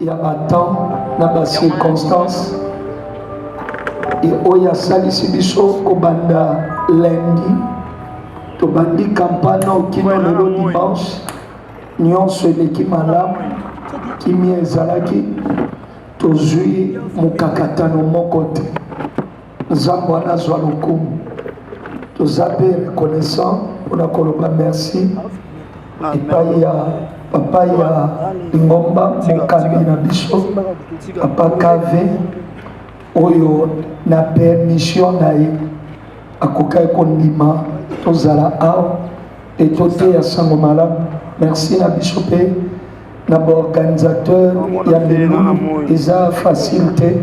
ya batemp na bacirconstance oyo asalisi biso kobanda lundi tobandi kampane okino lelo dimanche nyonso eleki malamu kimia ezalaki tozwi mokakatano moko te Nzambe wana azwa lokumu. Toza pe reconnaissant pona koloba merci epai ya papa ya ngomba mokambi na biso papa kave oyo na permission na ye akokaki kondima tozala awa mpe toteya sango malamu merci na biso mpe na ba organisateur ya milulu eza facile te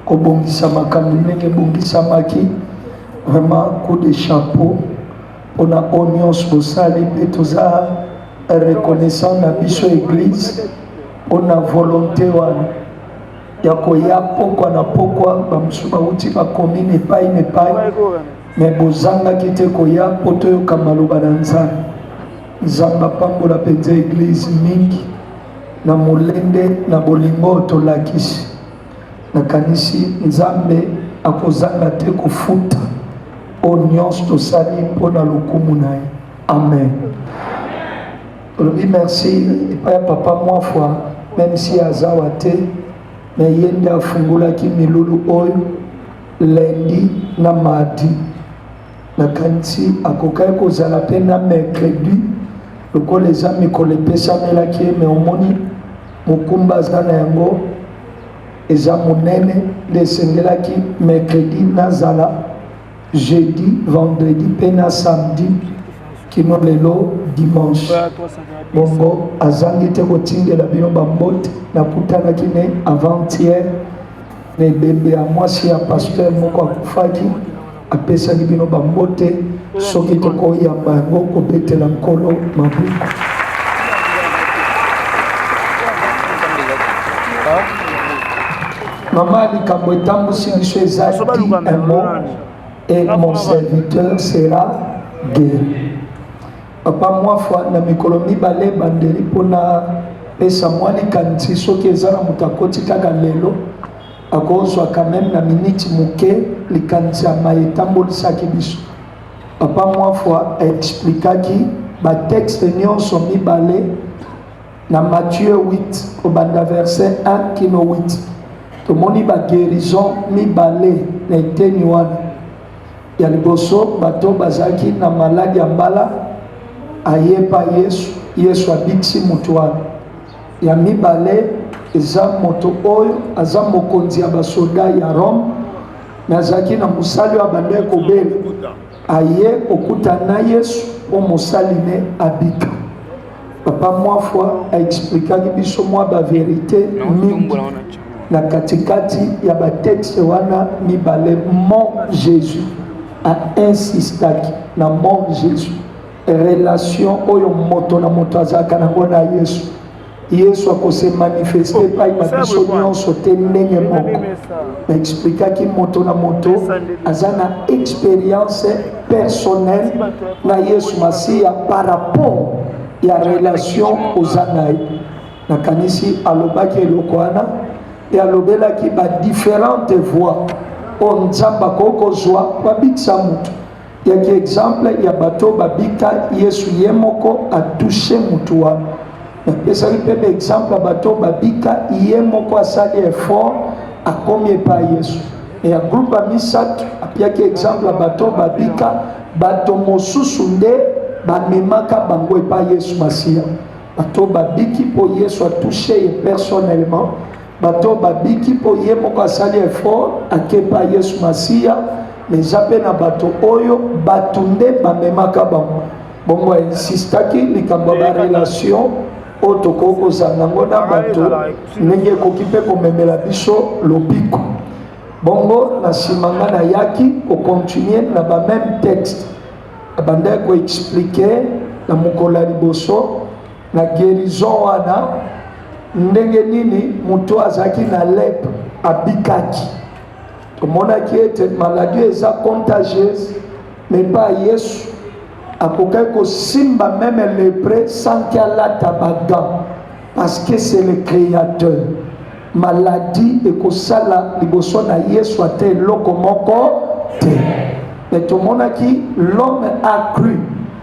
kobongisa makambo ndenge ebongisamaki vraiment coup de chapeau mpona oyo nyonso bosali mpe toza reconnaissant na biso église mpona volonté wana ya koya pokwa na pokwa bamosusu bauti bakomine epai na epai me bozangaki te koya mpo toyoka maloba na nzambe Nzambe apambola penza eglise mingi na molende na bolingo tolakisi. Nakanisi Nzambe akozanga te kofuta o nyonso tosali mpo na lokumu na ye. Amen. Tolobi merci epai ya papa Mwafwa, meme si azawa te, me ye nde afungolaki milulu oyo lendi na mardi Nakanisi akokaki kozala mpe na mercredi lokola eza mikolo epesamelaki ye, me omoni mokumba aza na yango eza monene, nde esengelaki mercredi nazala jeudi, vendredi mpe na samedi kino lelo dimanche. Bongo azangi te kotindela bino bambote, nakutanaki ne avant-hier na ebembe ya mwasi ya pasteur moko akufaki apesaki bino bambote soki tokoyamba yango kobetela nkolo maboko mama likambo etambusi biso ezali emo et mon serviteur sera guéri papa mwa fwa na mikolo mibale ebandeli mpo na pesa mwa likanisi soki eza na moto akoti kaka lelo Akozwa quand meme na minute moke likanisi ya maye etambolisaki biso. Papa Mwafwa aexplikaki batexte nyonso mibale na Matthieu 8 kobanda verset 1 kino 8 tomoni baguerison mibale na eteni wana ya liboso bato bazalaki na maladi ya mbala ayepa yesu yesu abikisi moto wana Ya mibale, eza moto oyo aza mokonzi ya basoda ya Rome, me azalaki na mosali oyo abandaki kobela, aye kokuta na Yesu mpo mosali ne abika. Papa mwa fois aexplikaki biso mwa baverite mingi na katikati ya batexte wana mibale. Mon Jésus a insistaki na mon Jésus relation oyo moto na moto azalaka nango na yesu yesu akose manifeste epai na biso nyonso te ndenge moko naexplikaki moto na moto aza na experience personnelle na yesu masiya par rapport ya relation oza na ye nakanisi alobaki eloko wana e alobelaki badifférente voix oyo nzambe akoki kozwa babikisa moto ya ki exemple ya bato babika yesu ye moko atouche motu wana napesaki mpe ba exemple ya bato babika ye moko asali effort akomi epai yesu me ya groupe ya misato apiaki exemple ya bato babika bato mosusu nde bamemaka bango epai yesu masiya bato babiki mpo yesu atouche ye personnellement bato oyo babiki mpo ye moko asali effort akepa yesu masiya me eza mpe na bato oyo bato nde bamemaka bango bongo ainsistaki likambo ya barelation oyo tokoki kozanga yango na bato ndenge ekoki mpe komemela biso lobiko bongo na nsima nga nayaki kokontinue na bameme texte abandaki koexplike na mokolo ya liboso na guérison wana ndenge nini moto azalaki na lep abikaki tomonaki ete maladie eza contagieuse mepa yesu akokaki kosimba meme lepre sanki alata bagan parce que c'est le créateur maladie ekosala liboso na yesu ata eloko moko te me tomonaki l'homme accru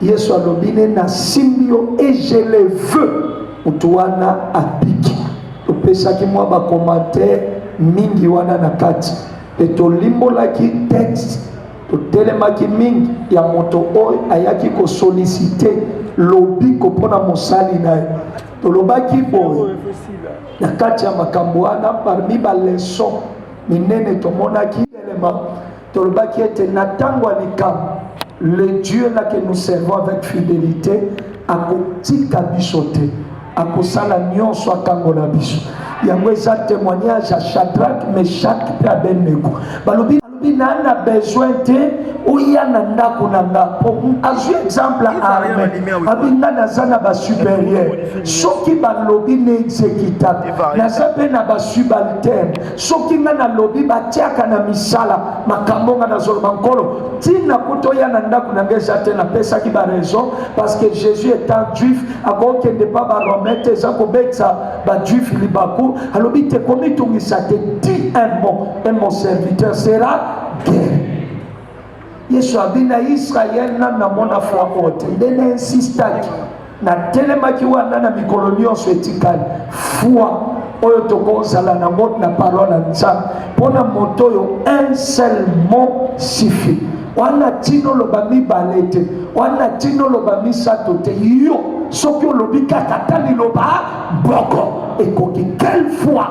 Yesu alobi ne nasimbi yo et je le veux. Moto wana abiki. Topesaki mwa bakomantere mingi wana na kati mpe tolimbolaki texte totelemaki mingi ya moto oyo ayaki kosolisite lobiko mpo na mosali na ye tolobaki boye na kati ya makambo wana parmi baleson minene tomonaki elema Tolobaki ete na ntango ya likambo, le Dieu là que nous servons avec fidélité akotika biso te, akosala nyonso akangola biso. Yango eza témoignage ya Shadrach, Meshach mpe Abednego. Balobi alobi na na besoin te oya na ndako na nga po azwi exemple arme abi nga naza na basuperieur soki balobi na exécutable naza mpe na basubalterne soki nga nalobi batiaka na misala makambo nga nazoloba nkolo ntina kuta oya na ndako na nga eza te napesaki baraison parce que jésus étant juif akokende mpa baromain te eza kobetisa bajuif libaku alobi te komitungisa te ti un mot et mon serviteur sera guéri Yesu abi na Yisraele, nani namona fwa oyo te, nde na insistaki natelemaki wana na mikolo nyonso etikali fwa oyo tokozala nango na parole ya nzambe mpo na moto oyo un seul mot suffit wana ntina oloba mibale te wana ntina oloba misato te yo soki olobi kaka ata liloba boko ekoki quelle foi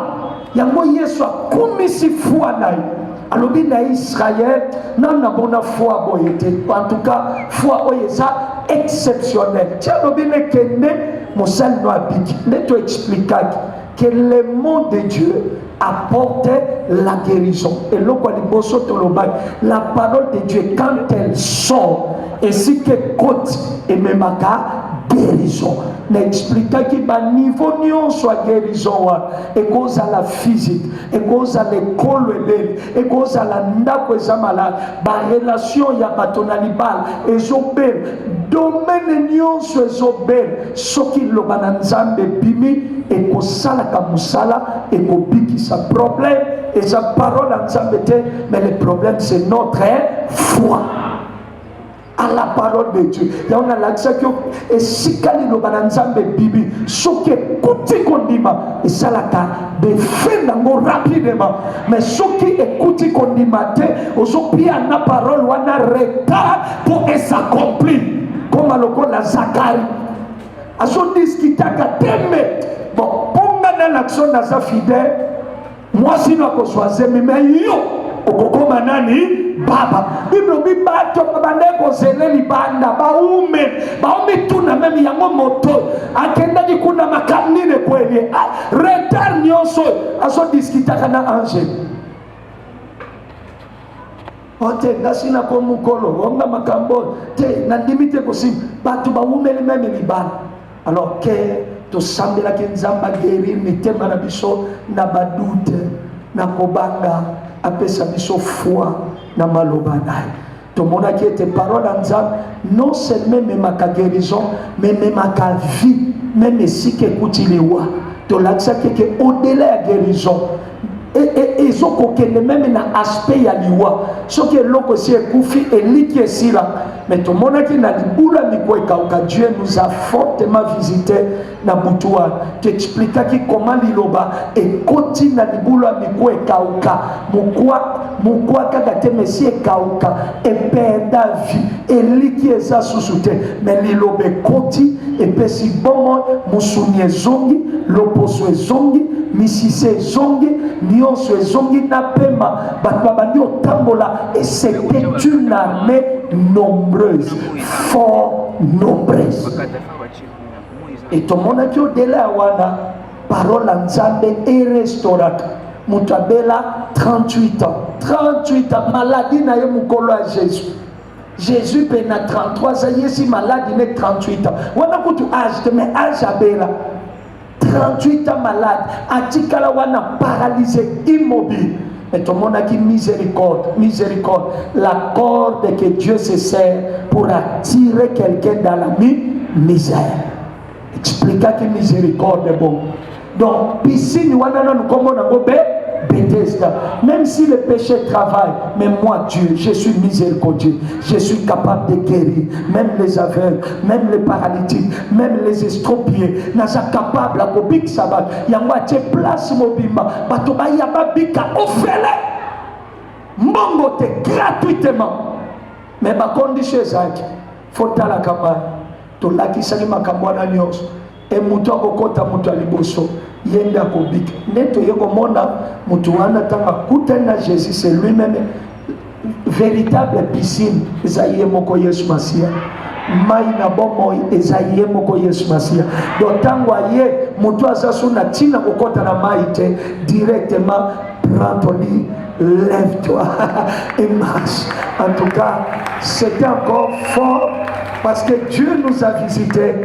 yango yesu akumisi foi na ye alobi na israel nanu namona foi boye te en tout cas foi oyo eza exceptionnel ti alobi ne kende mosali no abiki nde to explikaki que le mot de dieu apporte la guérison eloko ya liboso tolobaki la parole de dieu quand elle sort esika ekoti ememaka guérison na explikaki baniveau nyonso ya guérison wana ekozala physique ekozala ekolo eleli ekozala ndako eza malade barelation ya bato na libala ezobela domene nyonso ezobela soki liloba na nzambe ebimi ekosalaka mosala ekobikisa problème eza parole ya nzambe te mais le problème c'est notre foi à la parole de Dieu. yango nalakisaki yo esika liloba na nzambe ebibi soki ekuti kondima esalaka defe nango rapidement mais soki ekuti kondima te ozopia na parole wana retard mpo esakompli koma lokola zakari azodiskitaka tembe bon mpo nga nalakisa naza fidèle Mwasi no akozwa zemi me yo okokoma nani baba biblo bibato babanda kozele libanda baume baumituna meme yango moto akendaki kuna makambo nini ekweli ah, retard nyonso azodiskitaka na angele o te nga si na ko mokolo o nga makambo oyo te nandimi te kosimba bato bawumeli meme libala alors ke tosambelaki nzambe agerir mitema na biso na badute na kobanga apesa biso foi na maloba na ye tomonaki ete parole ya nzambe non seulement ememaka guérison mais ememaka vie meme esika ekuti liwa tolakisaki ete odela ya guérison ezokokende meme na aspect ya liwa soki eloko esi ekufi eliki esila me tomonaki na libula miko ekauka dieu nous a fortement visite na butu wana toexplikaki koma liloba ekoti na libula miko ekauka mokwa mokwa kaka te mesi ekauka ependa vi eliki eza susu te me liloba ekoti epesi bomoi mosuni ezongi loposo ezongi misise ezongi nyonso ezongi na pema bato babandi otambola et c'était une armée nombreuse fort nombreuse et tomonaki odela ya wana Parole ya Nzambe erestoraka moto abela 38 ans 38 ans maladi na ye mokolo ya Jésus Jésus mpe na 33 aza yesi maladi ne 38 ans wana kutu age te mais age abela 38 ans malade atikala wana paralyse immobile mais tomonaki miséricorde miséricorde la corde que Dieu se sert pour attirer quelqu'un dans la misère explikaki miséricorde bon donc piscine wana nanu nkombo nango be Bethesda. Même si le péché travaille, mais moi, Dieu, je suis miséricordieux. Je suis capable de guérir. Même les aveugles, même les paralytiques, même les estropiés. Naza capable à bobik sabat. Yango atie place mobimba. Bato ba yaba bika ofele. Mbongo te gratuitement. Mais ba condition ezaki. fo tala kamba tolakisaki makambo wana nyonso e moto akokɔta moto ya liboso ye nde akobika nde toye komona moto wana ntango akutani na jésus c'est lui meme véritable piscine eza ye moko yesu masiya mai na bomoi eza ye moko yesu masiya do ntango aye moto aza so na ntina kokɔta na mai te directement prend toli Lève-toi et marche. En tout cas, c'était encore fort parce que Dieu nous a visités.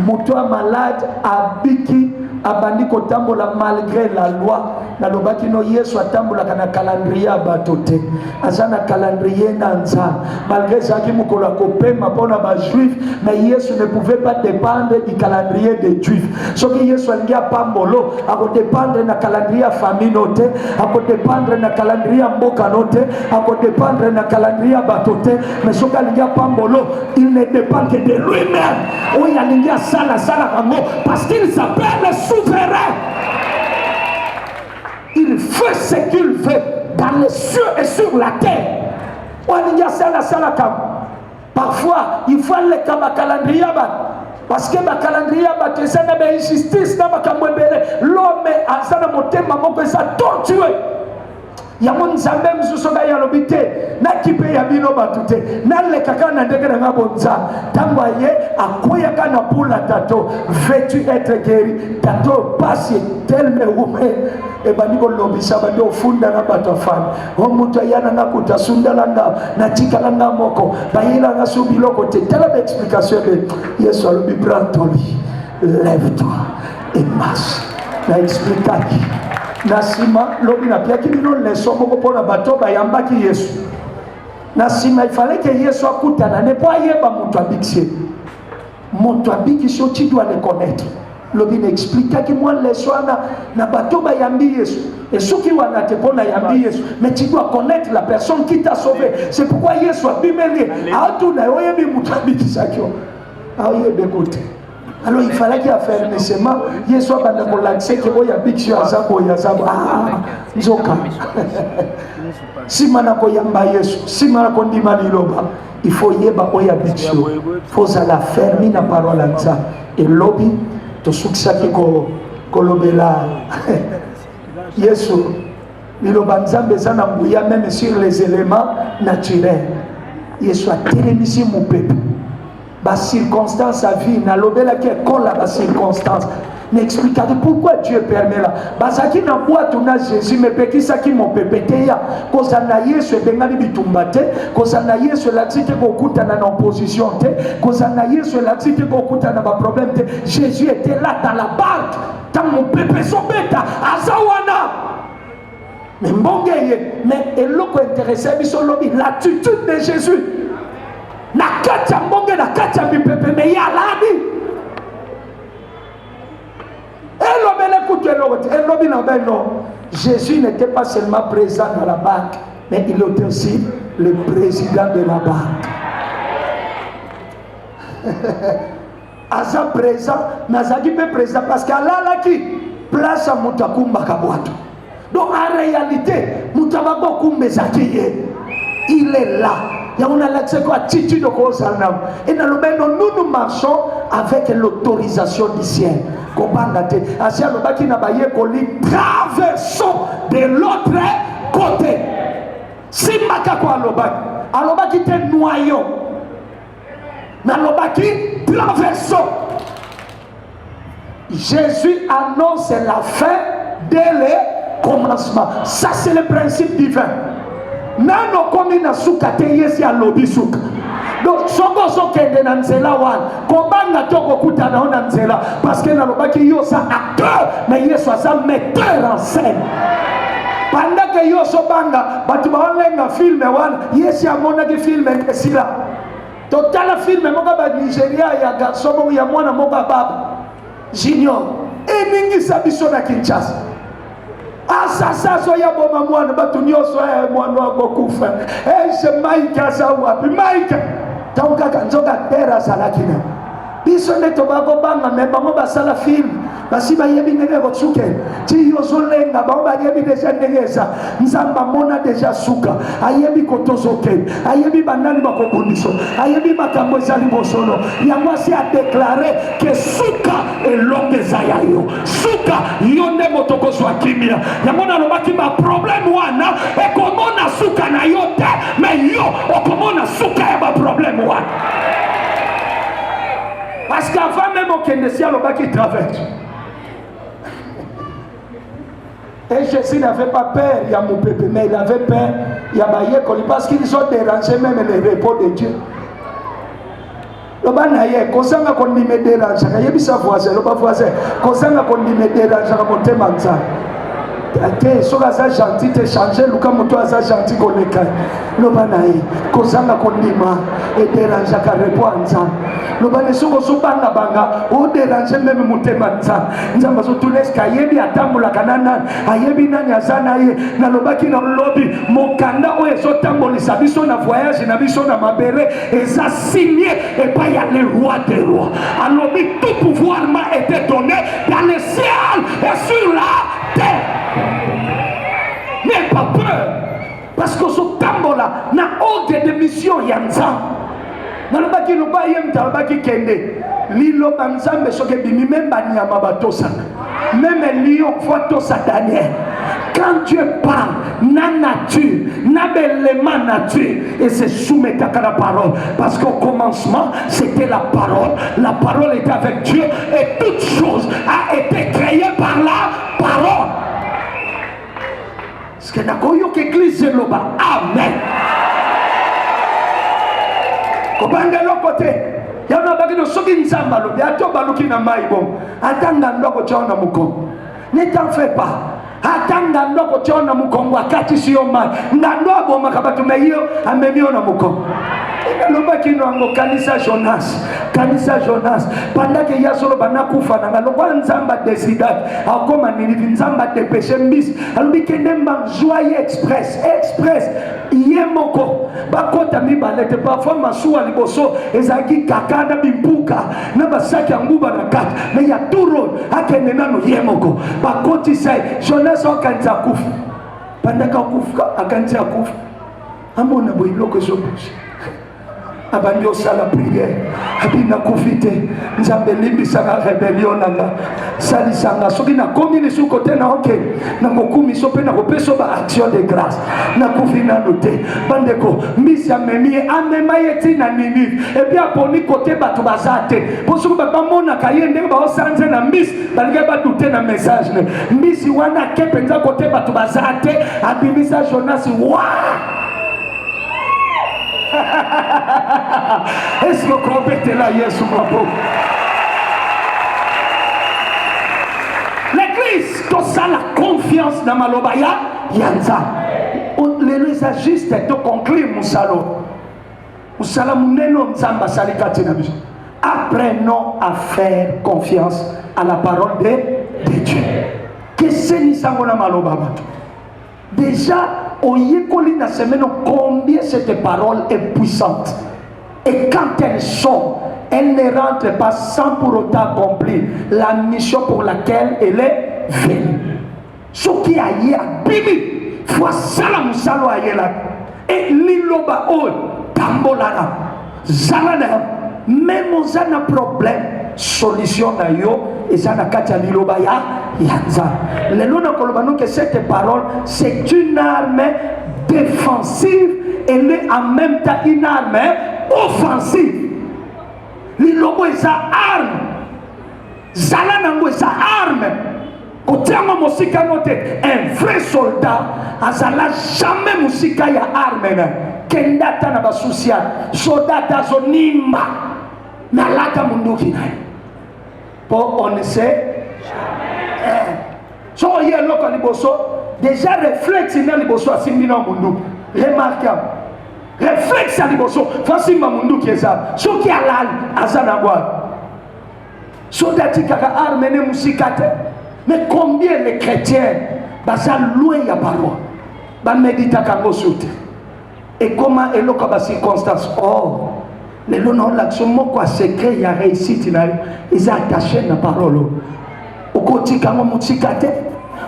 Moutoua malade, abiki, abandi kotambola malgré la loi. nalobaki no yesu atambolaka na calendrier ya bato te aza na calendrier na nzambe malgré ezalaki mokolo ya kopema mpo na bajuif mais yesu ne pouvait pas dépendre du calendrier des juif soki yesu alingi apambolo akodépendre na calendrier ya famille no te akodépendre na calendrier ya mboka no te akodépendre na calendrier ya bato te mais soki alingi apambolo il ne dépend que de lui-même oyo alingi asala asalaka yango parce qu'il s'appelle le souverain il fait ce qu'il fait dans les cieux et sur la terre oyo alingi asala asala kambo parfois il faut aleka bakalandrie ya bato parce que bakalandrie ya bato eza na bainjustice na makambo ebele lome aza na motema moko eza torture yango nzambe mosusu ngai alobi te nakipe ya bino bato te naleka kaka na ndenge na ngai bonzambe ntango aye akweyaka na pula tato vetu etre geri tato pasi telme wume ebandi kolobisa bandi ofunda na bato afandi o moto aya na nga kutu asundala nga natikala nga moko bayela nga su biloko te tala baexplication ebe yesu alobi brantoli lève toi et marche na explikaki na nsima lobi napiaki bino leso moko mpo na bato bayambaki yesu na nsima ifaleke yesu akutana ne mpo ayeba moto abikisi moto abikisi yo tu dois le connaître lobi na explikaki mwa leso wana na bato bayambi yesu esuki wana te mpo nayambi yesu mais tu dois connaître la personne qui t'a sauvé c'est pourquoi yesu abimeli atuna yo oyebi moto abikisaki yo ayebeko te alors il falaki afermissement yesu abanda kolakisa ete oyo abikisi yo aza boye aza boye ah, nzoka nsima na koyamba yesu nsima na kondima liloba il faut yeba oyo abiki yo fo ozala fermi na parole ya nza elobi tosukisaki kolobela yesu liloba nzambe eza na nguya meme sur les éléments naturels yesu atelemisi mopepe bacirconstance ya vie nalobelaki ekola bacirconstance n'explikaki pourquoi dieu permela bazalaki na bwato na jésus mepekisaki mopepe te ya kozala na yesu ebengani bitumba te kozala na yesu elakisi te kokutana na opposition te kozala na yesu elakisi te kokutana na baproblème te jésus était là dans la barque ntango mopepe ezobeta aza wana me mbonge eye me eloko interese biso lobi l'attitude de jésus na kati ya mbonge na kati ya mipepe me ye aladi elobeli ekutu eloko te elobi na bino jésus n'était pas seulement présent dans la banque mais il était aussi le président de la banque aza présent nazalaki mpe présent parce que alalaki place ya moto akumbaka bwato donc en réalité moto ya babokumba eza te ye il est là yango nalakisaki yo attitude okozala nango e nalobaki no nous nous marchons avec l'autorisation du ciel kobanga te asi alobaki na bayekoli traversons de l'autre côté simbaka ko alobaki alobaki te noyon nalobaki plan verso jésus annonce la fin dès le commencement ça c'est le principe divin nano okomi na suka te yesi alobi suka donc soki ozokende na nzela wana kobanga te okokutana yo na nzela parce que nalobaki yo oza acteur na yesu aza metteur en scène bandeke yo ozobanga bato baolenga filme wana yesu amonaki filme esila totala filme moko ba nigeria ya garso moko ya mwana moko ababa junior eningisa biso na kinshasa asasa azoya boma mwana bato nyonso eh, mwana akokufa ese eh, mike aza wapi mike ntango kaka nzoka tere azalaki na biso nde tokoka kobanga me bango basala filme basi bayebi ndenge ekosuke ti yo ozolenga bango bayebi deja ndenge eza nzambe amona deja suka ayebi kotozo te ayebi banani bakobundiso ayebi makambo eza libosono yango asi adeklare ke suka elongo eza ya yo suka yo nde moto okozwa kimia yango nalobaki baprobleme wana ekomona suka na yo te me yo okomona suka ya baprobleme wana Parce qu'avant même okende si alobaki travers. Et Jésus n'avait pas peur il y a mon peuple, mais il avait peur il y a Bayekoli parce qu'ils ont dérangé même le repos de Dieu. loba na ye kozanga kondima ederanjaka yebisa voisin loba voisin kozanga kondima ederanjaka motema nzambe te soki aza gentil te change luka moto aza gentil koleka loba na ye kozanga kondima ederangeaka repo ya nzambe loba na soki ozobangabanga oderange meme motema nzambe nzambe azotuna eske ayebi atambolaka na nani ayebi nani aza na ye nalobaki na lobi mokanda oyo ezotambolisa biso na voyage na biso na mabele eza signe epai ya le roi de roi alobi tout pouvoir ma été donné dans le ciel et sur la terre n'aie pas peur parce que ozotambola na ordre de mission ya nzambe nalobaki loba ye moto alobaki kende liloba nzambe soki ebimi meme banyama batosaka meme lion fo atosa daniel quand dieu parle na nature na belema nature et se soumettaka na parole parce qu'au commencement c'était la parole la parole était avec dieu et toute chose a été créée par la parole Sike nakoyoka eglise eloba amen. Kobanga eloko te. Yango nabaki no soki Nzambe alobi ato baluki na mai bongo ata ngando akotya na mokongo. Ne t'en fais pas. Ata ngando akotya na mokongo akatisi yo mai. Ngando abomaka bato me yo amemi yo na mokongo. Nalobaki no yango kanisa Jonas. Kanisa Jonas. Pendant que ye azoloba nakufa na nga lokola Nzambe adesidaki akoma Ninivi Nzambe adepeshe mbisi alobi kende mbam zwa ye express express ye moko bakota mibale te parfois masuwa liboso ezalaki kaka na bimpuka na basaki ya nguba na kati me ya turon akende nano ye moko bakotisa ye jonas akanisi akufa bandaka akufa akanisi akufa amona boye biloko ezobusa abandi osala priere abi nakufi te nzambe limbisaka rebelio na nga salisa nga soki nakomi lisusu kote na oke na mokumiso mpe nakopesa ba action de grâce nakufi nano te bandeko mbisi amemi ye amema ye ti na ninive epuis aponi kote bato baza te mpo soki bamonaka ye ndenge baosanze na mbisi balingai badute na message ne mbisi wana ake mpenza kote bato baza te abimisa jonasi waa Eske okobetela Yesu maboko? L'église tosala confiance na maloba ya ya Nzambe. Lelo eza juste to conclure mosalo mosala monene oyo Nzambe asali kati na biso. Apprenons à faire confiance à la parole de, de Dieu. Kesenisa yango na maloba bato Dejà oyekoli na semaine combien cette parole est puissante et quand elle sort elle ne rentre pas sans pour autant accomplir la mission pour laquelle elle est venue soki aye abimi fo asala mosala ayelaki e liloba oyo tambolaka zala na meme oza na problème solution na yo eza na kati ya liloba ya ya nzambe lelo nakoloba noke cette parole c'est une arme défensive elle est en même temps une arme offensive liloba eza arme zala nango eza arme kotia yango mosika yango te un vrai soldat azala jamais mosika ya arme na kenda ata na basusi ya soldat azonimba nalata monduki na ye mpo on se eh. so oye eloko ya liboso deja reflexe na liboso asimbi na monduki remarkable reflexe ya liboso fasimba monduki eza soki alali aza na bwana soki atikaka arme ne mosika te mais combien de chrétien baza loin ya balwa bameditaka yango su te ekoma eloko ya bacirconstance or oh, lelo naolakisa moko ya secret ya réussite na yo eza attache na parole okotika yango mosika te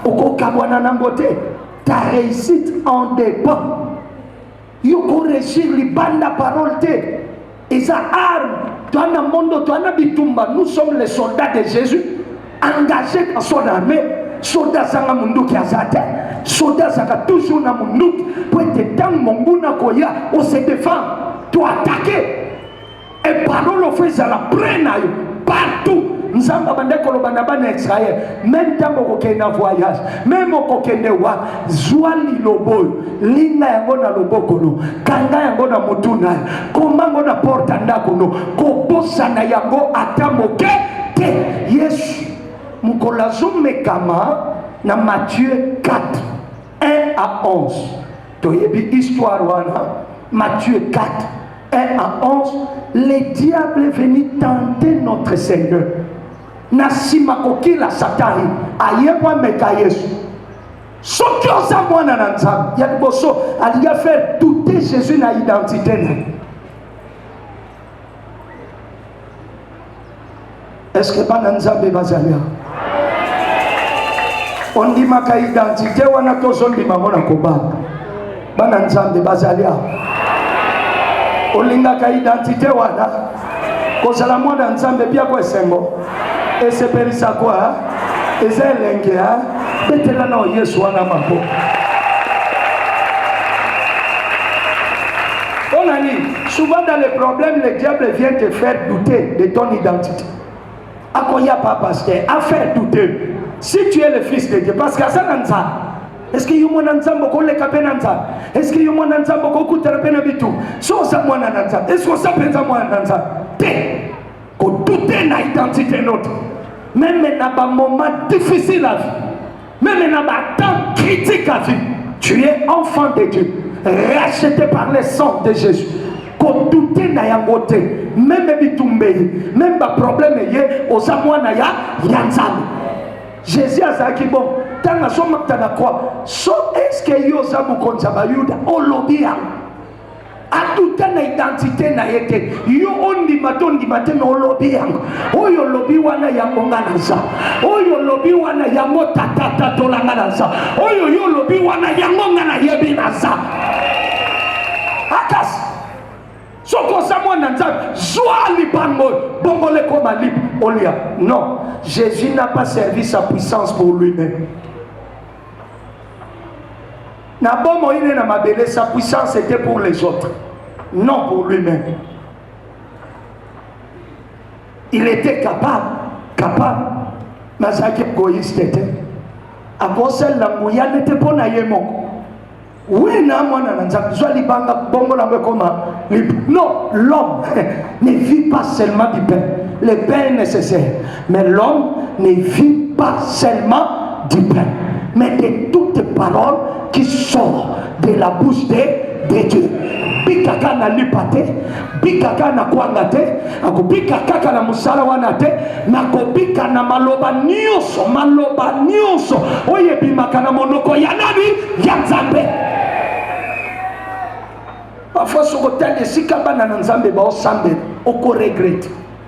okokabwana nango te ta réussite en dépend Yo ko regir libanda parole te. Eza arme. Toi na mondo, toi na bitumba. Nous sommes les soldats de Jésus. Engagés dans son armée. Soda zanga munduki azate. Soda zaka toujours na munduki. Pour être tango monguna koya, on se défend. Toi attaquer. Et pardon, le fait, ça la prenne partout. nzambe abanda koloba na bana ya israele meme ntango okokende na voyage meme okokende wa zwa liloba oyo linga yango na loboko no kanga yango na motu na yo koma yango na porte ya ndako no kobosana yango ata moke te yesu mokolo azomekama na matthieu 4 1 à 11 toyebi histoire wana Matthieu 4 1 à 11 le diable est venu tenter notre seigneur na nsima kokila satani aye kwameka yesu soki oza mwana na nzambe ya liboso alingi afere doute jésus na identité na ye eske bana nzambe bazali awa ondimaka identite wana tozondima ngo na kobanga bana nzambe bazali awa olingaka identite wana kozala mwana nzambe biako esengo esepelisa kwa eza elenge a betela nao yesu wana maboko mpo na nini Souvent dans les problèmes, le diable vient te faire douter de ton identité. Akoya pas pasteur, à faire douter. Si tu es le fils de Dieu, parce qu'à ça dans ça, est-ce que yo mwana nzambe okoleka mpe na nzambe est-ce que yo mwana nzambe okokutana mpe na bitu so oza mwana na nzambe est-ce que oza mpenza mwana na nzambe te kodute na identité note meme na bamoment difficile à vie Meme na ba temps critique à vie, tu es enfant de Dieu, racheté par le sang de Jésus. kodute na yango te meme bitumba eye meme baproblème eye oza mwana ya ya nzambe jésus azalaki bon ntango azomakta na kwa so eske yo oza mokonzi ya bayuda olobi yango atuta na identite na ye te yo ondima to ondima te me olobi yango oyo olobi wana yango nga naza oyo olobi wana yango tatatatola nga naza oyo yo olobi wana yango nga nayebi naza akas soki oza mwana nzambe zwa lipango bongola ekoma libre olia non jésus n'a pas servi sa puissance pour lui-même na bomoi ne na mabele sa puissance était pour les autres non pour lui-même il était capable capable nazalaki egoïste te akosalela nguya nete mpo na ye moko oui na mwana na nzambe zwa libanga bongo nango ekoma non l'homme ne vit pas seulement du pain le pain est nécessaire Mais l'homme ne vit pas seulement du pain, mais de toutes paroles qui sortent de la bouche de, de Dieu. bika kaka na lipa te bika kaka na kwanga te akobika kaka na mosala wana te nakobika na maloba nyonso maloba nyonso oyo ebimaka na monoko ya nani ya nzambe parfois soki otali esika bana na nzambe baosambela okoregrete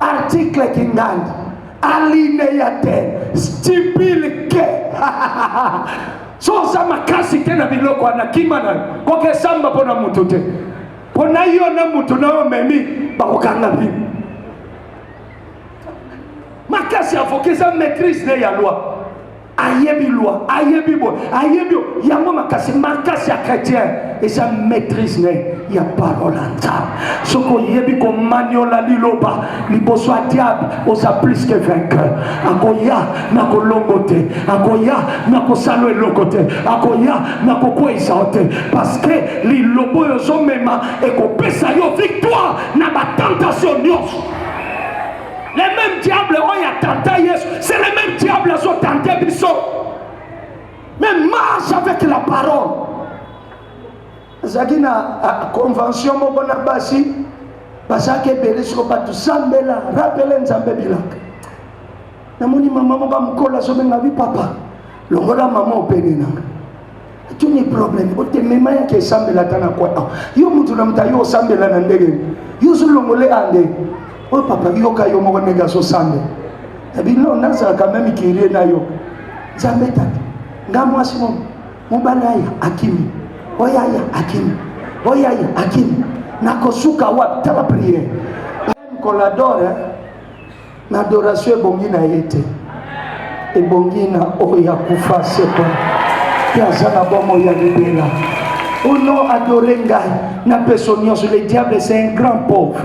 Article Kingandi, alineya te, stipule que so oza makasi te na biloko wana kima na kokesamba mpo na motu te mpo na yo na motu na yo memi bakokanga bino makasi avoka eza maîtrise ne ya loi ayebi loi ayebi boye ayebi oyo yango makasi makasi ya chrétien eza maîtrise ne ya parole ya nzambe soki oyebi komaniola liloba liboso ya diable oza plus que vainqueur akoya na kolongo te akoya na kosala eloko te akoya na kokweisa yo te parce que liloba oyo ozomema ekopesa yo victoire na batentation nyonso Le même diable oyo ya tanta Yesu, c'est le même diable azo tenter biso. Même marche avec la parole. Azalaki na ah, convention moko na basi bazalaki ebele soko bato sambela rapele nzambe bilaka namoni mama moko ya mokolo azobenga bi papa longola mama opene nanga Quel est problème otemema yake esambela ata na kwa ah, yo moto na moto ayo osambela na ndenge yo ozolongole ande oyo oh, papa yoka yo moko ndenge azosambela ebino nazalaka meme kirie na yo nzambe tata nga mwasi mo mobali aya akimi oyo aya akimi oyo aya akimi nakosuka wapi tala priere koladore na adoration ebongi na ye te ebongi na oyo akufa sekwa mpe aza na bomoi ya libela ono adore ngai na peso nyonso le diable c'est un grand pauvre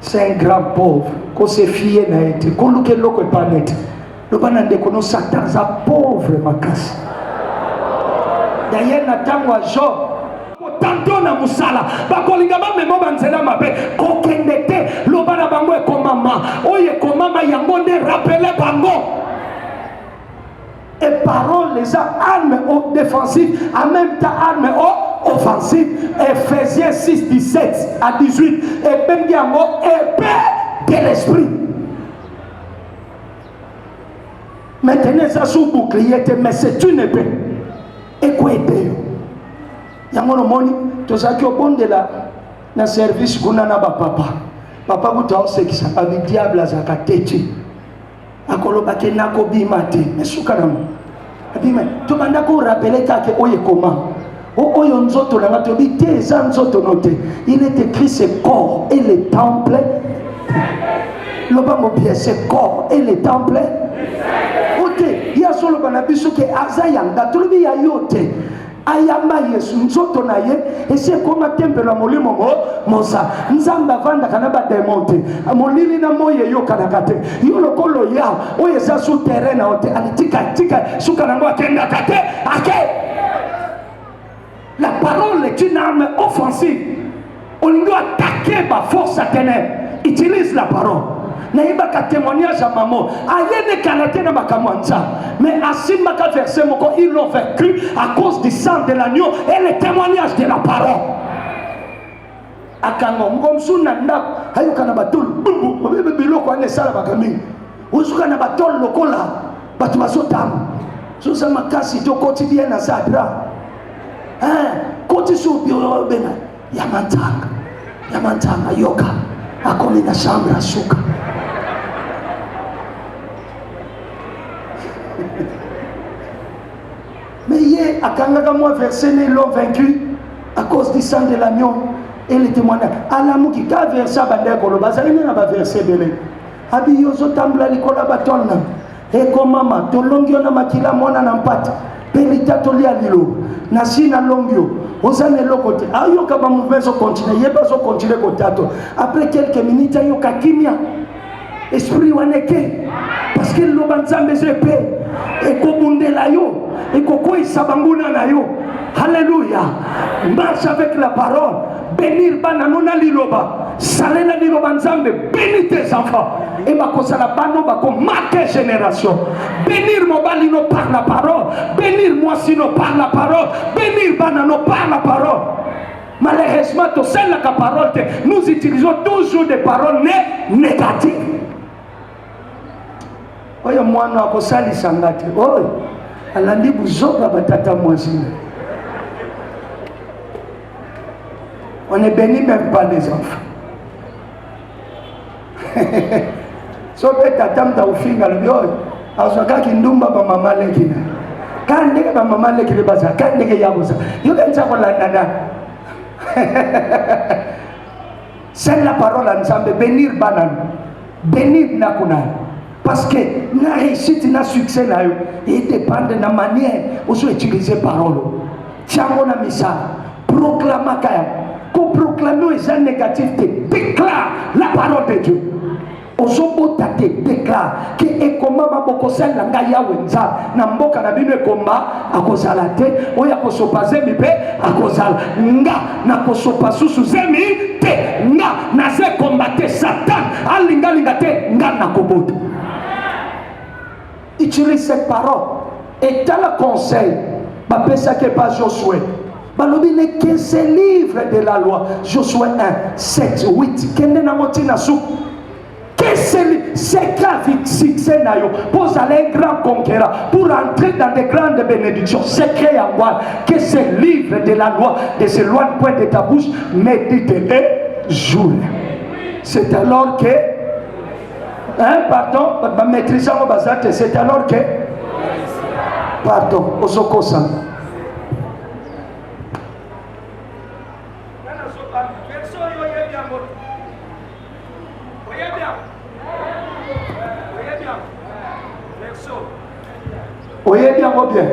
c'est un grand pauvre kosefie na ye te koluka eloko epa nete loba na ndeko no satan aza pauvre makasi dayele na ntango ya job tanto na mosala bakolinga bamema banzela mabe kokende te loba na bango ekomama oyo ekomama yango nde rapele bango e parole eza arme o défensive en même temps arme o offensive ephésiens 6 17 à 18 ebengi yango epe de l'esprit maintenant eza sous bouclier te mais c'est une épée ekoede yo yango nomoni tozalaki obondela na service kuna na bapapa papa kutu aosekisa babi diable azalaka teti akolobaki nakobima te mais suka nango Bima, tobanda ko rappeler kaka oyo ekoma oyo nzoto na nga tobi te eza nzoto no te il est écrit ce corps et le temple lobango bien ce corps et le temple ote ye azoloba na biso ke aza yanga tolobi ya yo te ayamba yesu nzoto na ye esi ekoma tempelo ya molimo mo mosa nzambe avandaka na bademon te molili na moi eyokanaka te yo lokola oya oyo eza su terrain na yo te alitikatika suka na yango akendaka te ake la parole est une arme offensive olingi atake ba force ya tenere utilise la parole nayebaka témoignage ya mamo ayenekana te na makambo ya nzambe mais asimbaka verset moko ils l'ont vaincu à cause du sang de l'agneau et le témoignage de la parole akanga moko mosusu na ndako ayokana batulu biloko wana esalamaka mingi ozuka na batole lokola bato bazotanga zoza makasi tokoti bie na zadra koti su biro bena ya mantanga ya mantanga yoka akomi na chambre asuka mais ye akangaka mwa verse ne l'homme vaincu à cause du sang de l'agneau et le témoignage alamuki ka verse abandaki koloba azali nde na baverse ebele Abi yozo tambula likola ba tonna. Eko mama tolongi yo na makila mwana na mpata mpe litatoli ya liloba na si nalongi yo oza na eloko te ayoka bamouvema ezokontinue ye mpe azokontinue kotato après quelques minutes ayoka kimia esprit wana eke parce que liloba nzambe eza epe ekobundela yo ekokweisa banguna na yo halleluya marche avec la parole Bénir bana no na liloba. Salela liloba Nzambe. Bénis tes enfants. Et bakosala bano bako marquer génération. Bénir mobali no par la parole. Bénir mwasi no par la parole. Bénir bana no par la parole. Malheureusement, tout ça la parole, nous utilisons toujours des paroles négatives. oyo mwana akosalisa nga te oyo alandi buzoba batata mwasi On ne bénit même pas les enfants. so mpe tata moto akofinga lobi oyo azwakaki ndumba bamama leki na ka ndenge bamama leki nde bazala ka ndenge ya kozala yo kanisa kolandana Send la parole à Nzambe, bénir banane, bénir Nakunan. Parce que na réussite, na succès na yo, il dépend de la manière où tu utilises parole. Tiango na misa, proclama kaya, ko proclamer les négatifs, déclare la parole de Dieu. ozobota te deklare ke ekomama bokosalela ngai yawe nzambe na mboka na bino ekomba akozala te oyo akosopa zemi mpe akozala nga nakosopa susu zemi te nga naza ekomba te satan alingalinga te nga nakobota Utilise cette parole et tala conseil bapesaki epa Josue balobi ne que ce livre de la loi Josue 1 7 8 kende nango ntina suku seka succès na yo mpo ozala un grand conquérant pour entrer dans de grandes bénédictions secret ya wana que ce livre de la loi de ce loi de point de ta bouche médite et jour c'est alors que Hein, pardon, ba maîtrise yango baza te, c'est alors que pardon, ozokosa oyebi yango bien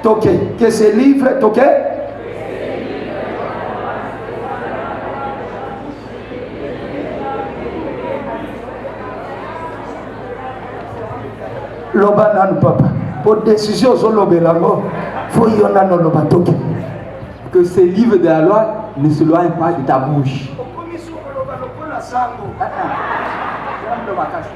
toke que ce livre toke loba nanu papa po décision ozolobela yango fo yo nanu oloba toke que ce livre de la loi ne se loigne pas de ta bouche okomi sokoloba lokola sango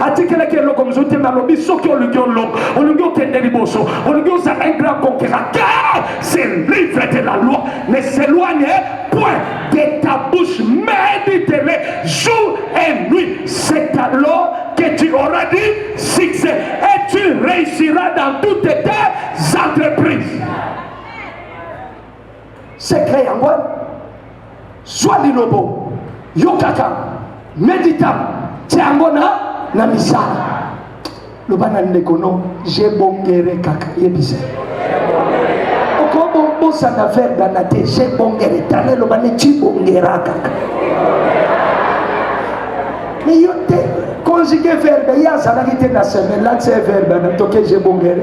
atikelaki eloko mosusu te nalobi soki olingi olonga olingi okende liboso olingi ozala un grand conquérant que ce livre de la loi ne s'éloigne point de ta bouche médite-le jour et nuit c'est alors que tu auras du succès et tu réussiras dans toutes tes entreprises Secret yango zwa lilobo, yokaka, medita, tia yango na na misala. Loba na ndeko no, je bongere kaka, yebisa okobosana verbe na te, je bongere, tala eloba ne ti bongera kaka me yo te conjuguer verbe ye azalaki te na semaine lakisa ye verbe na toke je bongere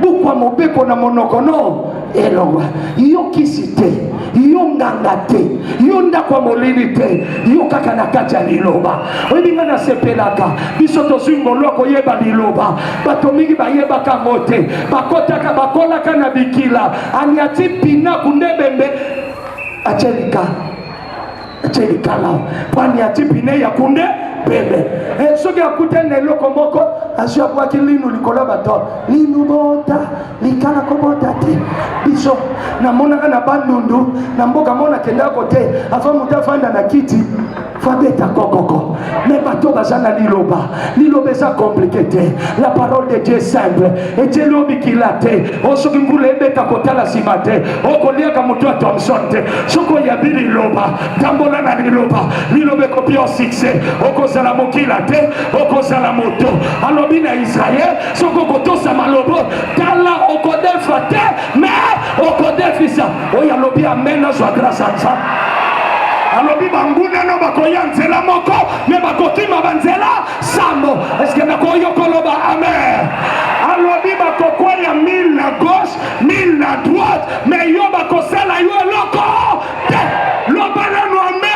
bukwa mobeko na monoko no elongwa yo kisi te yo nganga te yo ndako ya molili te yo kaka na kati ya liloba oyebi ngai nasepelaka biso tozwi ngolu ya koyeba liloba bato mingi bayebaka yango te bakotaka bakolaka na bikila aniati pinaku nde bembe acelika celikala pani ya tipine ya kunde pembe eh, soki akutani na eloko moko azwi abwaki linu likolo ya bato linu bota likala kobota te biso namonaka na bandundu na mboka mona kendaka kote ava moto afanda na kiti fabeta kokoko me bato baza na liloba liloba eza komplike te la parole de dieu simple ejeli o mikila te o soki mvula ebeta kotala nsima te okoliaka moto ya thomson te soki oyabi liloba tambola na liloba liloba ekopi o succès okozala mokila te okozala moto alobi na israel soki okotosa malobo tala okodefa te me okodefisa oyo alobi amen azwa grâce ya nzambe alobi bangunano bakoya nzela moko me bakokima banzela sambo eske nakoki yo koloba amen alobi bakokweya mille na gauche mille na droite me yo bakosala yo eloko te loba nanu amen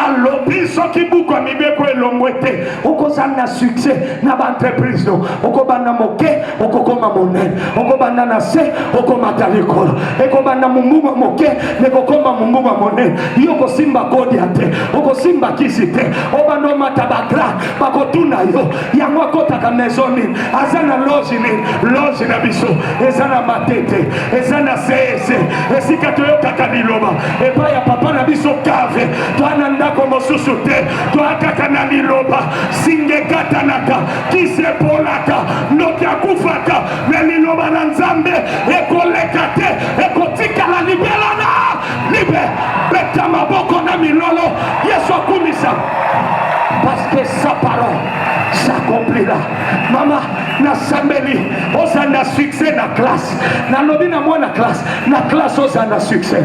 alobi soki buku ya mibeko elongwe te okozanga succès na baentreprise no okobanda moke okokoma monene okobanda na se okomata likolo ekobanda mombuma moke ekokoma mombuma monene yo okosimba kodia te okosimba kisi te obanda omata bagra bakotuna yo yango akotaka maison nini aza na loge nini loge na biso eza na matete eza na sese esika toyokaka liloba epai ya papa na biso kave toa na ndako mosusu te twakaka na liloba singa ekatanaka kisi epolaka ndoki akufaka me liloba na nzambe ekoleka te ekotikala libela na libe beta maboko na milolo yesu akumisa paske sa parole s'accomplira mama nasambeli oza na succès na classe nalobi na mwana classe na classe oza na succès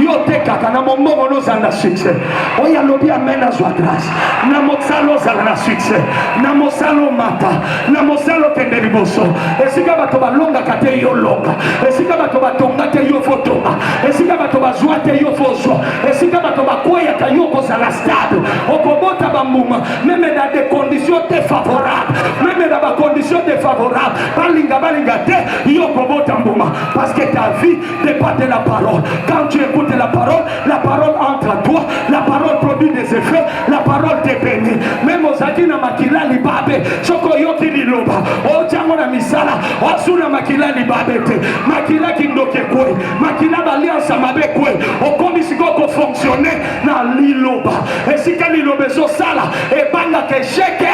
yo te kaka na mombongo noza na succès oyo alobi amen azwa grâce na mosala ozala na succès na mosala omata na mosala okende liboso esika bato balongaka te yo longa esika bato batonga te yo fotonga esika bato bazwa te yo fozwa esika bato bakweyaka yo okozala stable okobota bambuma meme na des conditions défavorables meme na bacondition défavorable balinga balinga te yo okobota mbuma parce que ta vie départ de la parole. Quand tu écoutes la parole, la parole entre à toi, la parole produit des effets, la parole te bénit. Même aux adina makila libabe, soko yoki liloba, o jango na misala, o suna makila libabe te, makila kindoke kwe, makila baliansa mabe kwe, okomi siko ko fonctionner na liloba. Esika liloba ezo sala, ebanga ke sheke,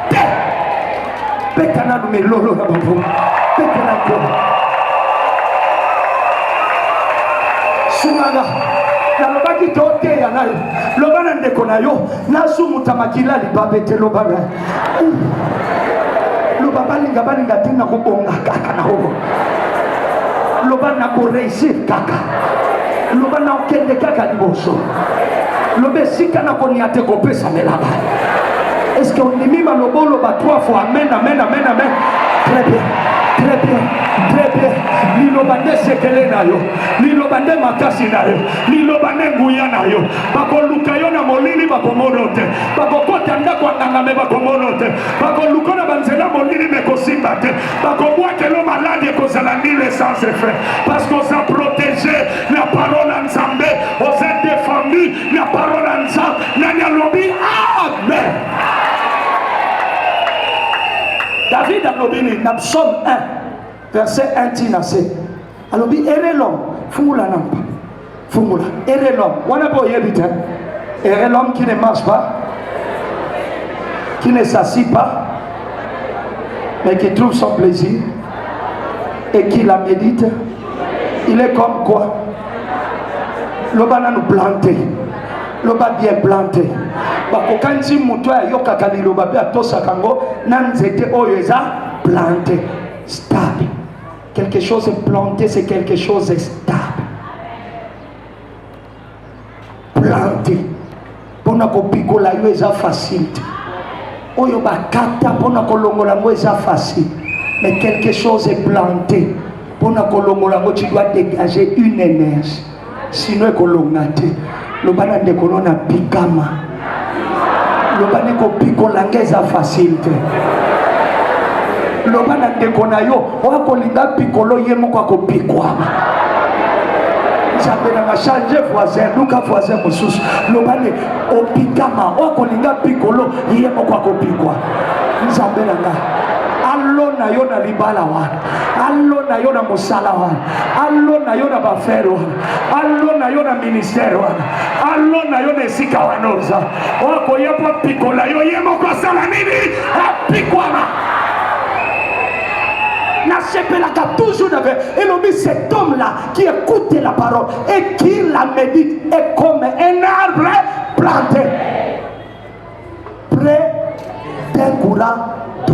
te beta nanu melolo na bango beta na nkolo sunganga nalobaki toteya na yo loba na ndeko na yo nasumuta makila libabe te loba na loba balinga balinga te nakobonga kaka na obo loba na koreisir kaka loba na okende kaka liboso loba esika na konia te kopesamela ba eske ondimi maloba oloba trois fois amen amen amen amen très bien très bien très bien liloba nde sekele na yo liloba nde makasi na yo liloba nde nguya na yo bakoluka yo na molili bakomono te bakokota ndako ya nganga me bakomono te bakoluka na banzela molili mekosimba te bakobwakelo maladi ekozala nile sans effet parce que oza protege na parole ya nzambe oza defendu na parole ya nzambe nani alobi amen david alobi nini na psaume 1 verset 1 tina se alobi erelom fungula na mpa Fungola. Et de l'homme. Wana po yebi te. Et de l'homme qui ne mange pas, qui ne s'assit pas, mais qui trouve son plaisir et qui la médite, il est comme quoi Loba nanu planté. Loba bien planté. bakokanisi moto oyo ayokaka liloba mpe atosaka yango na nzete oyo eza plante stable Quelque chose est planté, c'est quelque chose est stable. Planté. Pona ko pikola yo eza facile. Oyo bakata pona ko longola ngo eza facile. Mais quelque chose est planté. Pona ko longola ngo tu dois dégager une énergie. sino ekolonga te loba na ndeko no na pikama loba nde kopikola nge eza fasile te loba na ndeko na yo oyo akolinga pikolo ye moko akopikwama nzambe nanga change voisin luka voisin mosusu loba nde opikama oyo akolinga pikolo ye moko akopikwa nzambe nanga alona yo na libala wana alona yo na mosala wana alona yo na bafere wana alona yo na ministere wana alona yo na esika wana oza okoya mpo apikola yo ye moko asala nini apikwama nasepelaka toujours na elobi cet homme là qui écoute la parole et qui la médite est comme un arbre planté près d'un courant d'eau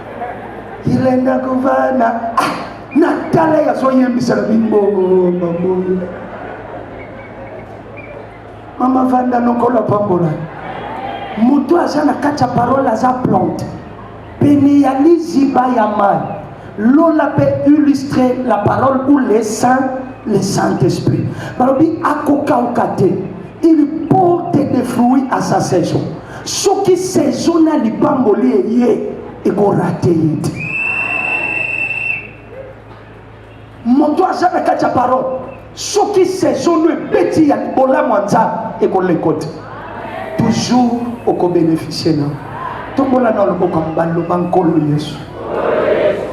ilenda kovana ah, natala ye azoyembisela bimbombamboyo mama vanda nokolo apambola moto aza na kati ya parole aza plante pene ya liziba ya mai lola mpe illustre la parole ou le saint le saint esprit balobi akokauka te il porte des fruits à sa saison soki saison na lipamboli eye ekorate ye te moto aza na kati ya parole soki saison no ebeti ya bolamu ya nzambe ekoleko te toujours okobeneficie na tombola na loboko ya mobali loba nkolo yesu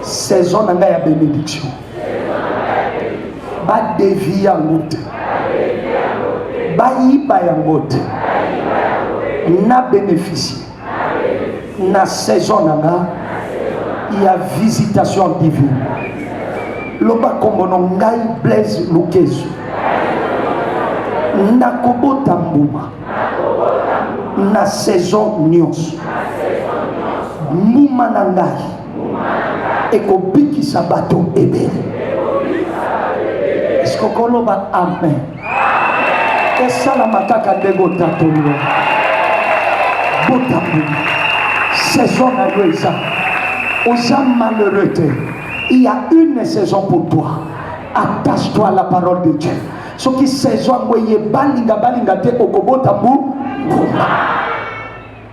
saison na ngai ya benediction badeviya yango te bayiba yango te na bénéficie na saison na nga ya visitation divine loba nkombo na ngai blaise lukezu nakobota mbuma na saison nyonso mbuma na ngai ekobikisa bato ebele esikokoloba amen esalama kaka ndenge otatoli yo botamboli saison na yo eza oza malheureux te il y a une saison pour toi attache toi à la parole de dieu soki saison yango eye balinga balinga te okobota mbu mbuma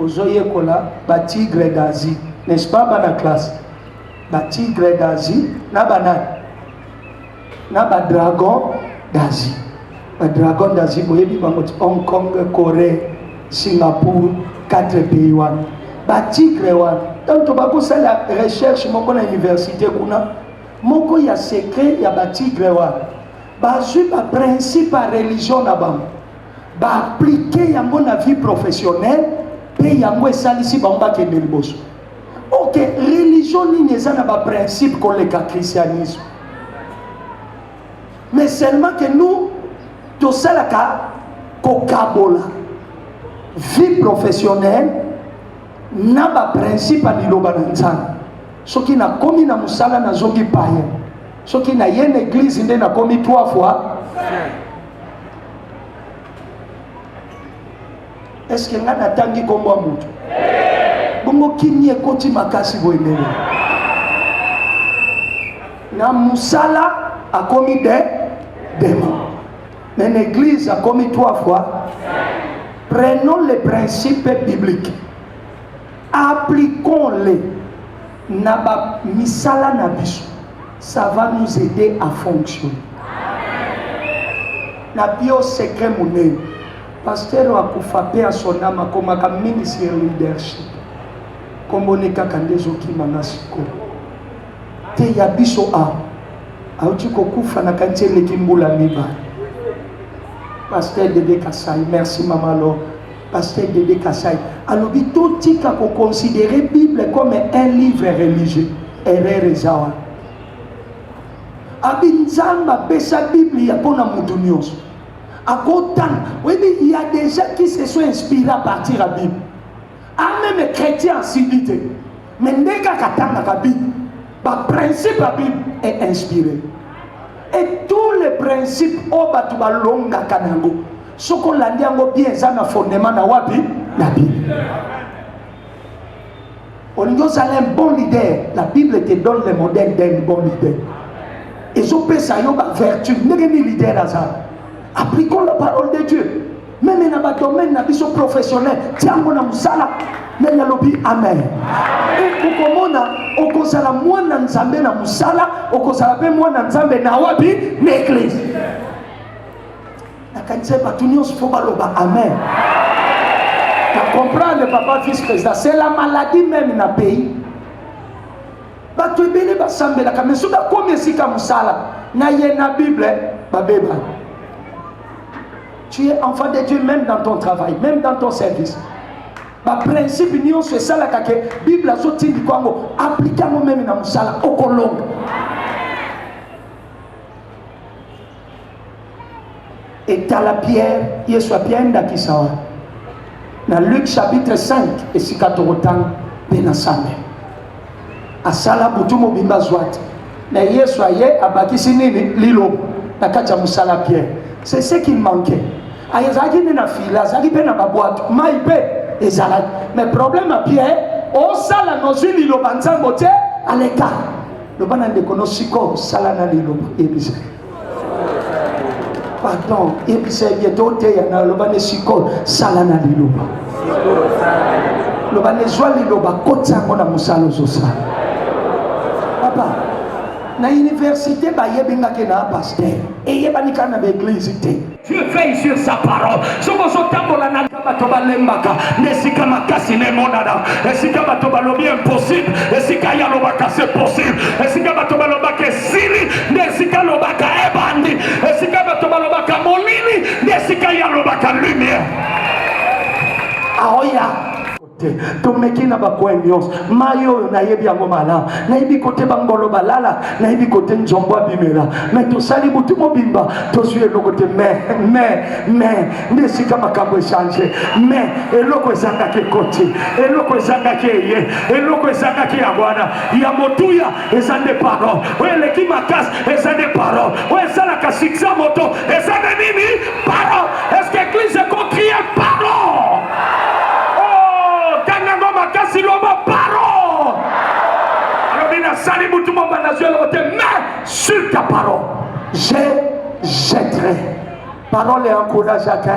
ozoyekola ba tigre d'Asie n'est-ce pas bana classe ba tigre d'Asie na banani na ba dragon d'Asie ba dragon d'Asie boyebi bango ti Hong Kong Corée Singapour quatre pays wana ba tigre wana donc tobakosala recherche moko na université kuna moko ya secret ya ba tigre wana bazwi ba principe ya religion na bango ba appliquer yango na vie professionnelle mpe yango esalisi bango bakende liboso ok religion nini eza na baprincipe koleka christianisme mais seulement que nous tosalaka kokabola vie professionnelle na baprincipe ya liloba na nzambe soki nakomi na mosala nazongi paye soki naye na eglize nde nakomi trois fois eske ngai natangi nkombo ya moto bongo kimia ekoti makasi boye ndenge na mosala akomi de dema mais na église akomi trois fois prenons les principes bibliques appliquons-les na ba misala na biso ça va nous aider à fonctionner na bio secret monene pasteur akufa pe ya son âme akomaka mingi sur leadership kombo ne kaka nde ezokima na sikoyo te ya biso awa auti kokufa na kanisi eleki mbula mibale pasteur dede kasai merci mama lor Pasteur Dede Kasai alobi totika ko considérer Bible comme un livre religieux. Erreur eza wana. Abi Nzambe apesa Biblia mpo na moto nyonso. Akotanga. Oyebi, il y a des gens qui se sont inspirés à partir ya Bible. Ah, même chrétien asili te. Mais nde kaka atangaka Bible, ba principe ya Bible est inspiré. Et tous les principes oyo oh, bato balongaka na yango soki olandi yango bien eza na fondement na wapi na bible olingi ozala un bon leader la bible te donne le modèle d'un bon leader ezopesa yo bavertu ndenge nini leader aza appliquons la parole de dieu meme na badomaine na biso professionnel tiango na mosala nani alobi amen e okomona okozala mwana nzambe na mosala okozala mpe mwana nzambe na wapi na eglise nakanisa bato nyonso mpo baloba amen na comprendre papa vice président c'est la maladie meme na pays bato ebele basambelaka me soki akomi esika mosala na ye na bible babebana Tu es enfant de Dieu même dans ton travail, même dans ton service. Ba principe nyonso esalaka ke Bible azotindi kwango aplike yango meme na mosala okolonga. etala pierre yesu apia ye ndakisa wana na luke chapitre 5 esika tokotanga mpe na sambe asala butu mobimba azwa te na yesu aye abakisi nini liloba na kati ya mosala pierre c'est ce qui manquait azalaki nde na fila azalaki mpe na babwato mai mpe ezalaki mais problème ya pierre osala nozwi liloba nzambo te aleka loba na ndeko no sikoyo sala na liloba yebisa pardon yebisa ye bien toteya na loba ne sikoyo sala na liloba loba ne zwa liloba koti yango na mosala ozosala papa na université bayebi ngake na pasteur eyebani kaka na baeglise te Dieu veille sur sa parole. Soki ozotambola na bato balembaka na esika makasi na emonana, esika bato balobi impossible, esika ye alobaka c'est possible, esika bato balobaka esili nde esika alobaka ebandi, esika bato balobaka molili nde esika ye alobaka lumière. Aoya te tomeki na bakoin nyonso mai oyo nayebi yango malamu nayebi kote bangolo balala nayebi kote nzombo abimela me tosali butu mobimba tozwi eloko te me me me nde esika makambo echange me eloko ezangaki ekoti eloko ezangaki eye eloko ezangaki yango wana ya motuya eza nde parole oyo eleki makasi eza nde parole oyo esalaka siksa moto eza nde nini parole eske eglise ekokrie parole tanga oh, ngo makasi loba parole alobi nasali motu mobanda nazwi eloko te mais sur ta parole je jetterai parole encourageaka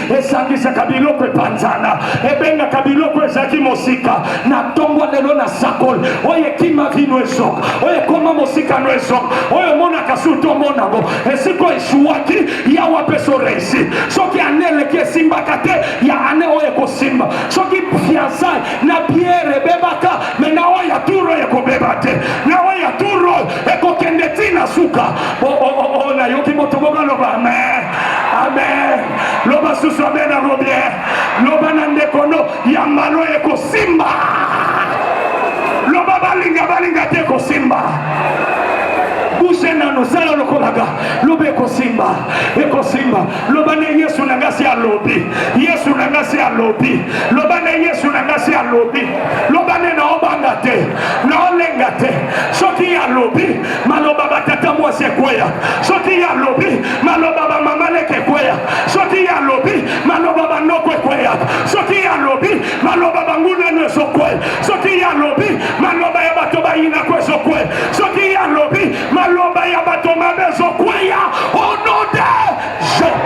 esangisaka biloko epanzana ebengaka biloko ezalaki mosika na ntongo lelo na sakoli oyo ekima vino ezoka oyo ekoma mosika no ezoka oyo emonaka surtu omonango esiko esuwaki yawa mpe soreisi soki ane eleki esimbaka te ya ane oyo ekosimba soki fiansai na biere ebebaka me na oyo ya turo ekobeba te na oyo ya turo ekokende ti na suka nayoki moto moko aloba amen amen loba susu amen yango bien loba na ndeko no ya malo ekosimba loba balinga balinga te ekosimba bushe nano sala lokolaka loba ekosimba ekosimba loba nde yesu na ngai si alobi yesu na ngai si alobi loba nde yesu na ngai si alobi loba nde naobanga te naolenga te soki ye alobi maloba batata mwasi ekweya soki ye alobi maloba bamama leke ekweya soki ye alobi maloba banoko ekweya soki ye alobi maloba bangunanu ezokwe soki ye alobi maloba ya bato bayinako ezokwe soki ye alobi Maloba ya bato mabe ezokweya au nom de Jean.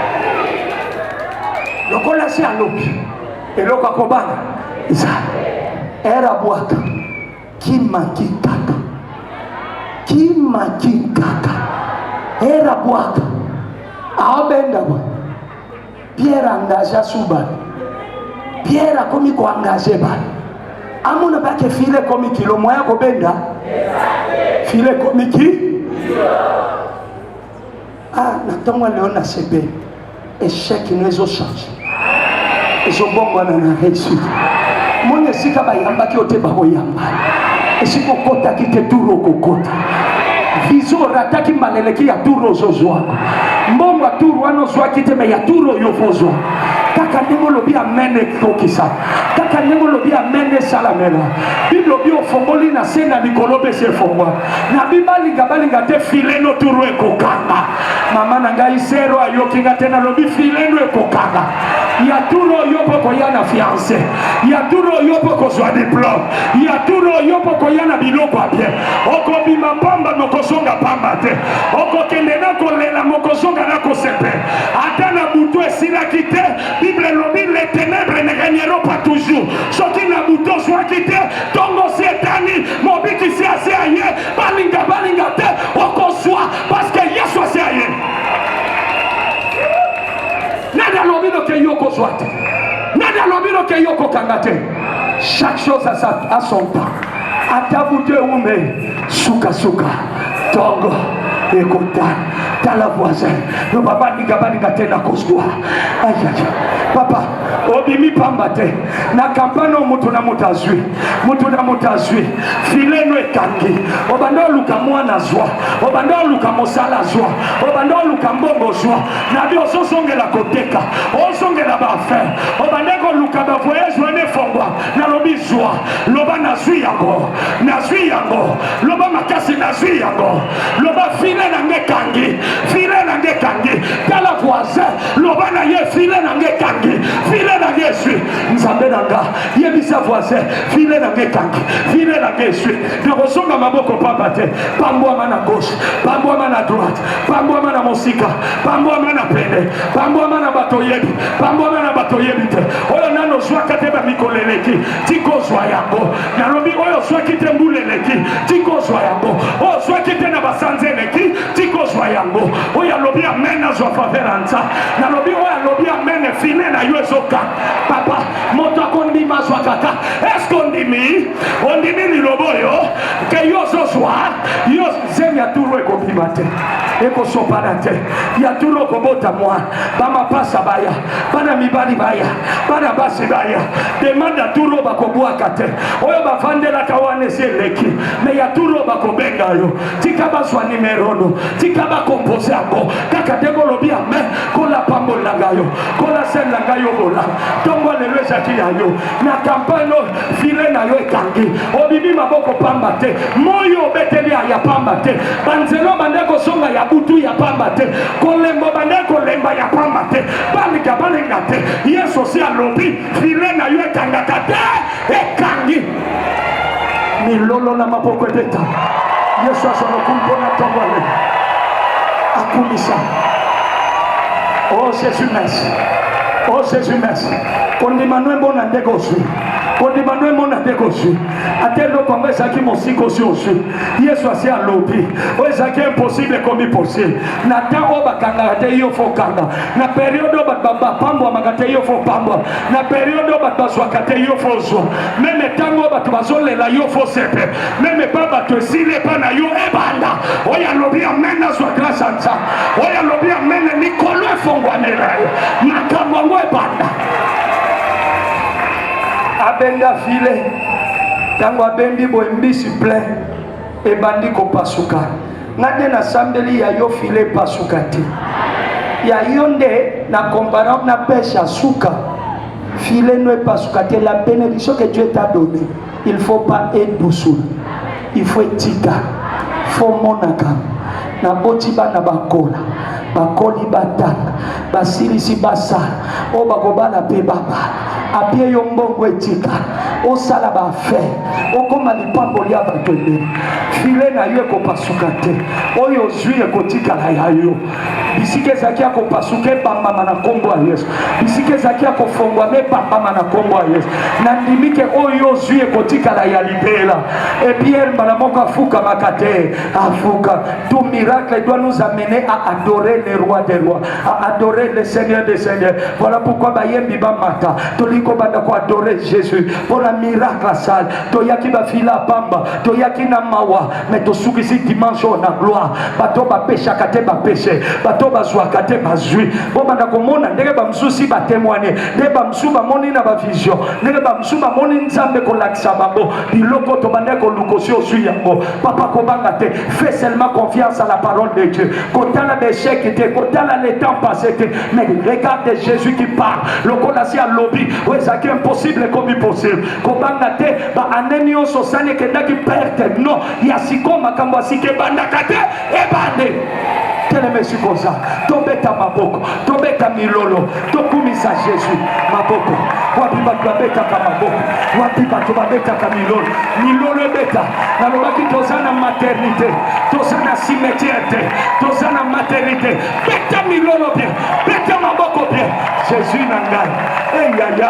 Lokola si alobi eloko akobanga eza era bwaka kimaki kaka kimaki kaka era bwaka abenga bwa Pierre engagea su bato. Pierre akomi koengage bato. Amona bake file ekomi kilo moya kobenda file ekomi ki ah, na ntongo ya leo nasepe echec no ezochange ezobongwana na réussite moni esika bayambaki yo te bakoyamba esika okotaki te turu okokota vision orataki mbala eleki ya turu ozozwa mbongo ya turu wana ozwaki te me ya turu oyo okozwa kaka ndenge olobi amen ekokisa kaka ndenge olobi amen esalamela bible obi ofongoli na se na likolo mpe se efongwa na bibalinga balinga te fileno turu ekokanga mama na ngai zero ayoki nga te nalobi fileno ekokanga ya turo yo mpo koya na fiance ya turo yo mpo kozwa diplome ya turo yo mpo koya na biloko ya bien okobima mpamba mokozonga mpamba te okokende na kolela mokozonga na kosepe ata na butu esilaki te bible elobi le tenebre ne regnero pas toujours soki na butu ozwaki te ntongo si etani mobikisi asi aye balinga balinga te okozwa paske yesu asi aye Nani alobi no ke yoko zwa te? Nani alobi no ke yoko kanga te? Chaque chose a sa a son temps. Ata bute ume suka suka tongo ekota tala voisin no papa ninga baninga te na koswa ayaya papa obimi pamba te na kampani oyo moto na moto azwi moto na moto azwi file no ekangi obanda oluka mwana zwa obanda oluka mosala zwa obanda oluka mbongo zwa nabi ozozongela koteka ozongela baafin obande koluka bavoyage wana efongwa nalobi zwa loba nazwi yango nazwi yango loba makasi nazwi yango loba file na nge kangi file na nge kangi tala voisin loba na ye file na nge kangi file na nge eswi nzambe na nga yebisa voisin file na nge kangi file na nge eswi nakozonga maboko pamba te pambwama na gauche pambwama na droite pambwama na mosika pambwama na pene pambwama na bato oyebi pambwama na bato oyebi te oyo nano ozwaka te bamikolo eleki tikozwa yango nalobi oyo ozwaki te mbula eleki tikozwa yango oyo ozwaki te na basanza eleki tikozwa yango oyo alobi amen azwa faveur ya nza nalobi oyo alobi amen fine na yo ezoka papa moto akondima azwaka ta eske ondimi ondimi liloba oyo ke yo ozozwa yo zemi ya tulu ekobima te ekosopana te ya tulu okobota mwa bamapasa baya bana mibali baya bana basi baya demande ya tulu bakobwaka te oyo bafandelaka wana esi eleki me ya tulu bakobenga yo tika bazwa nimerono tika bakompose yango kaka te kolobi ame kolapambolanga yo kolaselanga yo bola ntongo lelo ezalaki ya yo na kampane oyo file na yo ekangi obimi maboko pamba te moi obeteli ya pamba te banzelo bande kozonga ya butu ya pamba te kolembo bande kolemba ya pamba te balinga balinga te yesu si alobi file na yo ekangaka te ekangi milolo na maboko ebeta yesu azoloku mpona ntongo ale akumisa o oh, jesus merci o oh, jesus merci kondima no emona ndenge ozwi kondima no emona ndenge ozwi ata eloko yango ezalaki mosika osi ozwi yesu asi alobi oyo ezalaki impossible ekomi possible na ntango oyo bakangaka te yo fokanga na periode oyo bato bapambwamaka te yo fopambwa na periode oyo bato bazwaka te yo fozwa meme ntango oyo bato bazolela yo fosepe meme epa bato esili epa na yo ebanda oyo alobi amen nazwa grâce ya nzambe oyo alobi amen likolo efongwanela yo makambo yango ebanda abenga file ntango abendi boye mbisi plein ebandi kopasuka nga nde nasambeli ya yo file epasuka te ya yo nde na comparable na peshe ya suka file no epasuka te la benediction que dieu t'a donné il faut pas edusul il faut etika faut monaka naboti bana bakola bakoli batanga basilisi basala oyo bakobala mpe babala apie yo mbongo etika osala baafere okoma lipango lya bato ebele file na yo ekopasuka te oyo ozwi ekotikala ya yo bisika ezalaki ya kopasuka ebambama na nkombo ya yesu bisika ezalaki ya kofongwama ebambama na nkombo ya yesu nandimi ke oyo ozwi ekotikala ya libela epiere mbala moko afukamaka te afuka tout miracle doit nous amener à adorer le roi des rois à adorer le seigneur des seigneurs voilà pourquoi bayembi bamata tolingi kobanda koadore jésus mpo na miracle asali toyaki bafila pamba toyaki na mawa me tosukisi dimanche oyo na gloire bato bapeshaka te bapeshe bato bazwaka te bazwi bobanda komona ndenge bamosusi batemoigne nde bamosusu bamoni na bavision ndenge bamosusu bamoni nzambe kolakisa bango biloko tobandaki koluka osi ozwi yango papa kobanga te fait seulement confiance à la parole de dieu kotala baechec te kotala le temps passé te mais regarde jésus qui parle lokola si alobi oyo ezalaki impossible ekomi possible kobanga te ba année nyonso sani ekendaki perte non ya sikoyo makambo ya sika ebandaka te ebande teleme sikoza tobeta maboko tobeta milolo tokumisa jésus maboko wapi bato babetaka maboko wapi bato babetaka milolo milolo ebeta nalobaki toza na maternité toza na cimetière te toza na maternité beta milolo bien beta maboko bien jésus na ngai eyaya